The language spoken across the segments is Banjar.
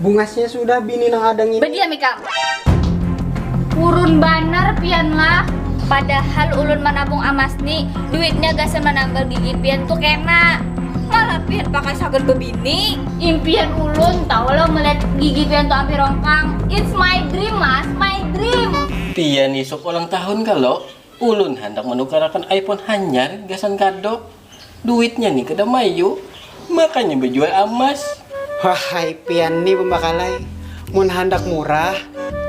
Bungasnya sudah bini nang ada ngini. Badiam ikam. Purun banar pian lah. Padahal ulun manabung amas ni, duitnya gasan manambal gigi pian tu kena. Malah pian pakai sagan bebini. Impian ulun tahu lo melihat gigi pian tu ampih rongkang. It's my dream mas, my dream. Pian isuk ulang tahun kalo? Ulun handak manukarakan iPhone hanyar gasan kado. Duitnya ni kada mayu, makanya bajual amas. Wahai pian ni pambakalai, mun handak murah,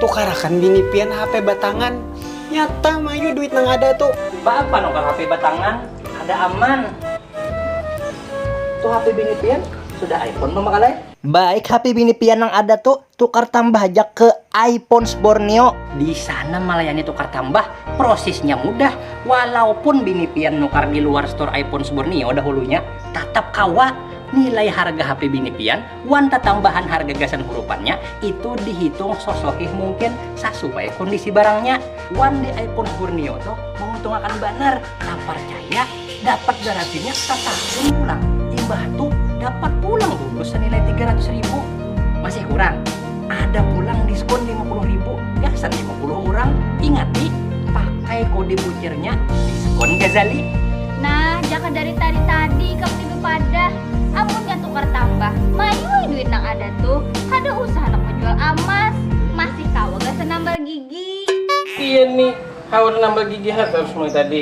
tukarakan bini pian hape batangan. Nyata mayu duit nang ada tu. Baapa nukar hape batangan, kada aman. Tu hape bini pian sudah iPhone pambakalai. Baik hape bini pian nang ada tu. Tukar tambah haja ke iPhones Borneo. Di sana malayani tukar tambah, prosisnya mudah, walaupun bini pian nukar di luar store iPhones Borneo dahulunya, tatap kawa. Nilai harga HP bini pian wan tatambahan harga gasan hurupannya itu dihitung sosohih mungkin sasuai kondisi barangnya. Wan di iPhones Borneo tu menguntungakan banar, taparcaya. Dapat garantinya satahun pulang. Imbah tu dapat pulang bonus sanilai tiga ratus ribu. Masih kurang? Ada pulang diskon lima puluh ribu gasan lima puluh urang. Ingat ti, pakai kode butirnya DiskonGhazali. Nah, jaka dari tadi tadi ikam ni bepadah, amunnya tukar tambah, mayuai duit nang ada tu, kada usah handak bejual amas, masih kawa gasan nambal gigi. Pian ni, haur nambal gigi ha tarus mulai tadi.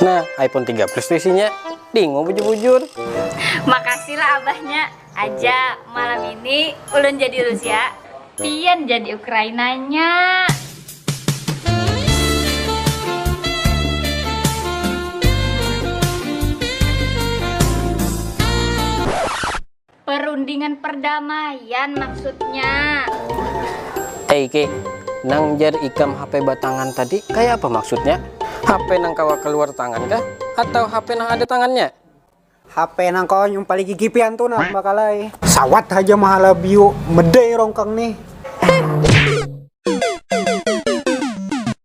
nah iphone tiga plus isinya dingin bujur makasih lah abahnya aja malam ini ulun jadi rusia pian jadi ukrainanya perundingan perdamaian maksudnya eh ike nang jar ikam hp batangan tadi kaya apa maksudnya hp nang kawa kaluar tangan kah atau hp nang ada tangannya. HP nang kawa nyumpali gigi pian tu nah mbak alai. Sawat haja mahalabiu, medai rongkang nih.